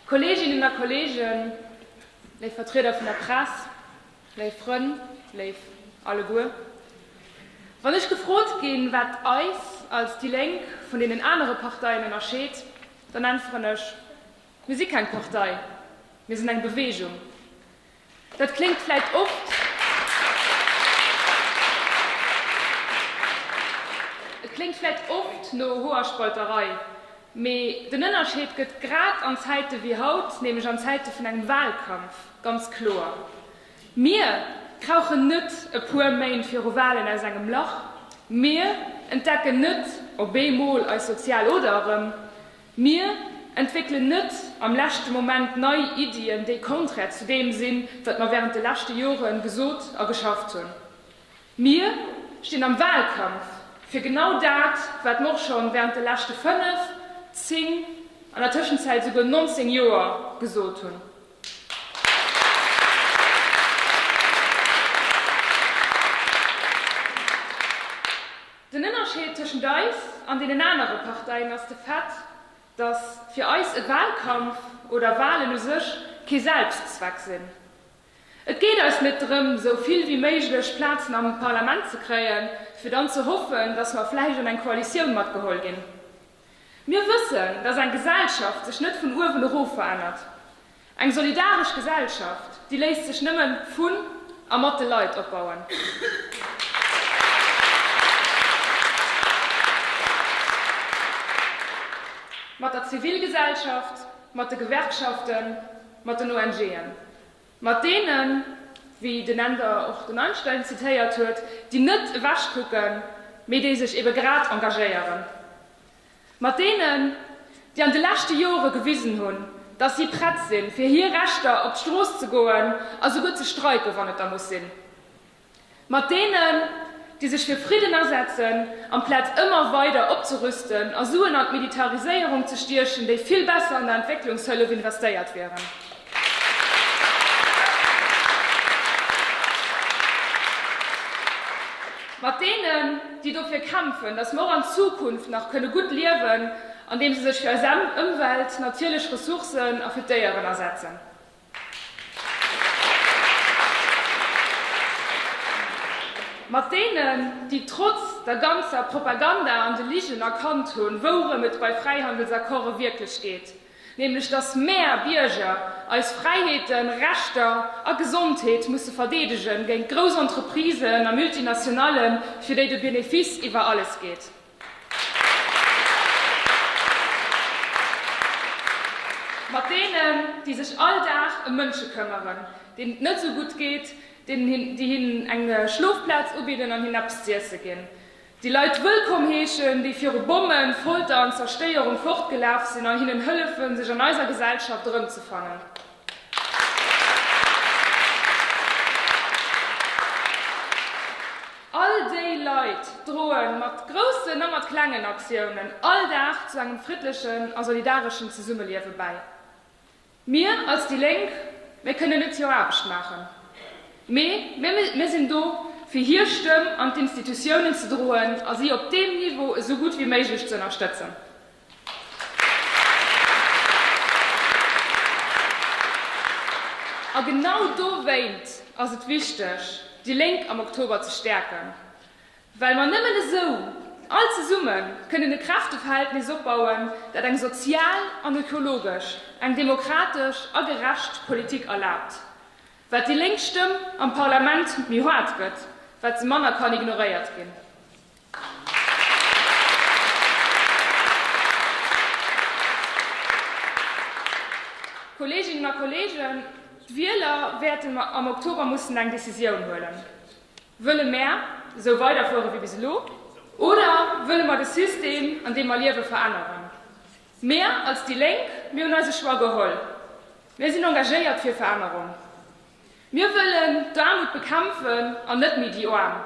Kolleeginnen a Kolleegen, léif Vertrieder vun der Press, léif Frënn, léif alleguer, wann ech gefrot ginn, wat eis als déi Lénk vun deenen anere Parteien ënnerscheet, dann äntweren ech, Mir si keng Partei, mir sinn eng Beweegung. Dat kléngt vläit oft, et kléngt vläit oft no Hoerspalterei, mee den Ënnerscheed gëtt grad an Zäite wéi haut, nämlech an Zäite vun engem Wahlkampf, ganz kloer. Mir krauchen net e puer Méint viru Wahlen aus engem Lach, mir entdecken net op eemol eis sozial Oder erëm. Mir entwéckelen net am leschte Moment nei Iddien, déi konträr zu deem sinn, wat mer während de leschte Jore gesot a geschafft hunn. Mir stinn am Wahlkampf fir genau dat, wat mer och scho während de leschte fënnf, zéng, an der Tëschenzäit esouguer nonzéng Joer gesot hunn. Den Ënnerscheed tëschent eis an deenen anere Parteien ass de Fait, datt fir eis e Wahlkampf oder Wahlen u sech kee Selbstzweck sinn. Et geet eis net drëm, sou vill wéi méiglech Plazen am Parlament ze kréien, fir dann ze hoffen, datt mer vläicht an eng Koalitioun matgeholl ginn. Mir wëssen, dass eng Gesellschaft sech net vun uewen erof verännert. Eng solidaresch Gesellschaft, déi léisst sech nëmmen vun a mat de Leit opbauen. Mat der Zivilgesellschaft, mat de Gewerkschaften, mat den ONG'en. Mat deenen, wéi den Änder och den Einstein zitéiert huet, déi net ewechkucken, mee déi sech ebe grad engagéieren. Mat deenen, déi an de leschte Jore gewisen hunn, datt si prett sinn, fir hir Rechter op d'Strooss ze goen a souguer ze streiken, wann et da muss sinn. Mat deenen, déi sech fir Fridden asetzen, amplaz ëmmer weider opzerüsten a Suen an d'Militariséierung ze stiechen, déi vill besser an der Entwécklungshëllef investéiert wieren. Mat deenen, déi dofir kämpfen, dass mer och an Zukunft nach kënne gutt liewen, andeem se sech fir eis Ëmwelt, natierlech Ressourcen a fir d'Déieren asetzen. Mat deenen, déi trotz der ganzer Propaganda an de Ligen erkannt hunn, wourëm et bei Fräihandelsaccorde wierklech geet, nämlech datt mäer Bierger eis Fräiheeten, Rechter a Gesondheet musse verdeedegen géint grouss Entreprisen a Multinationallen, fir déi de Benefice iwwer alles geet. Mat deenen, déi sech all Dag ëm Mënsche këmmeren, deenen et net esou gutt geet, déi hinnen eng Schlofplaz ubidden an hinnen eppes z'iesse ginn, déi Leit wëllkomm heeschen, déi viru Bommen, Folter an Zerstéierung fortgelaf sinn, an hinnen hëllefen, sech an eiser Gesellschaft erëmzefannen. All déi Leit droen mat groussen a mat klengen Aktiounen all Dag zu engem friddlechen a solidareschen Zesummeliewe bäi. Mir als déi Lénk, mir kënnen net hier Aarbecht maachen, mee mir sinn do fir hier Stëmm an d'Institutiounen ze droen a si op deem Niveau esou gutt wéi méiglech ze ënnerstëtzen. A genau dowéint ass et wichteg, déi Lénk am Oktober ze stäerken, well mer nëmmen esou, all zesumme kënnen e Kräfteverhältnis opbauen, dat eng sozial an ökologesch, eng demokratesch a gerecht Politik erlaabt. Wat déi lénk Stëmm am Parlament méi haart gëtt, wat se manner kann ignoréiert ginn. Kolleeginnen a Kolleegen, d'Wieler wäerten am Oktober mussen eng Decisioun huelen. Wëlle mär esou weiderfuere wéi bis elo oder wëlle mer de System, an deem mer liewen, veränneren? Mir als déi Lénk, mir hunn eise Choix geholl. Mir sinn engagéiert fir Verännerung. Mir wëllen d'Aarmut bekämpfen an net méi déi Aarm,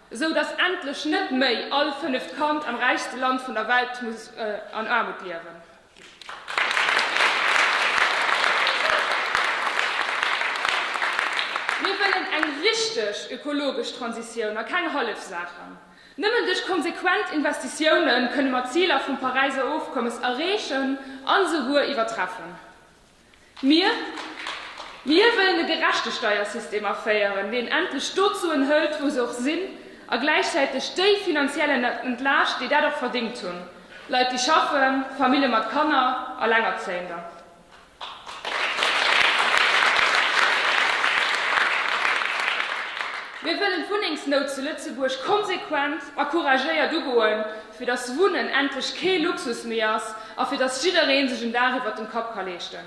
esou datt endlech net méi all fënneft Kand am räichste Land vun der Welt muss an Aarmut liewen. Mir wëllen eng richteg ökologesch Transitioun a keng hallef Saachen. Nëmmen duerch konsequent Investitiounen kënne mer d'Ziler vum Paräiser Ofkommes erreechen an esouguer iwwertreffen. Mir wëllen e gerechte Steiersystem aféieren, deen endlech d'Suen hëlt, wou se och sinn, a gläichzäiteg déi finanziell entlaascht, déi dat och verdéngt hunn, Leit, déi schaffen, Famillje mat Kanner, Alengerzéiender. Mir wëllen d'Wunnengsnout zu Lëtzebuerg konsequent a couragéiert ugoen. fir dass Wunnen endlech kee Luxus méi ass a fir dass jidderee sech en Daach iwwert dem Kapp ka leeschten.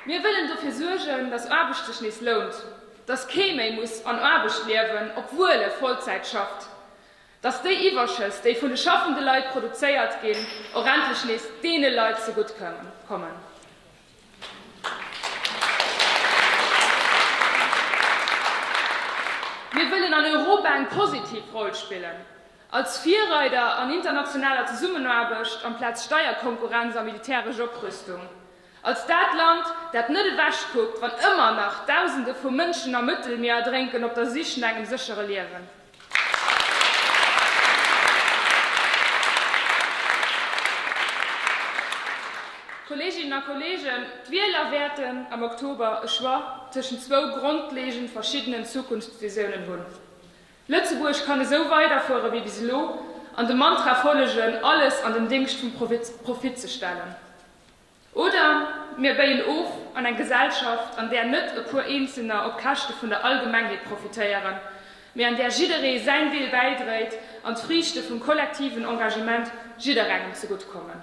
Mir wëllen dofir suergen, dass Aarbecht sech nees lount, dass kee méi muss an Aarbecht liewen, obwuel e Vollzäit schafft, dass déi Iwwerschëss, déi vun de schaffende Leit produzéiert ginn, och endlech nees deene Leit zegutt kommen. Mir wëllen an Europa eng positiv Roll spillen, als Virreider an internationaler Zesummenaarbecht amplaz Steierkonkurrenz a militäresch Oprüstung, als dat Land, dat net ewechkuckt, wann ëmmer nach Dausende vu Mënschen am Mëttelmier erdrénken op der Sich no engem séchere Liewen. Kolleeginnen a Kolleegen, d'Wieler wäerten am Oktober e Choix tëschent zwou grondleegend verschiddenen Zukunftsvisiounen hunn, Lëtzebuerg kann esou weiderfuere wéi bis elo an dem Mantra follegen, alles an den Déngscht vum Profit ze stellen. Oder mir béien of an eng Gesellschaft, an där net e puer Eenzelner op Käschte vun der Allgemengheet profitéieren, mee an där jidderee säin Deel bäidréit an d'Friichte vum kollektiven Engagement jidderengem zegutt kommen.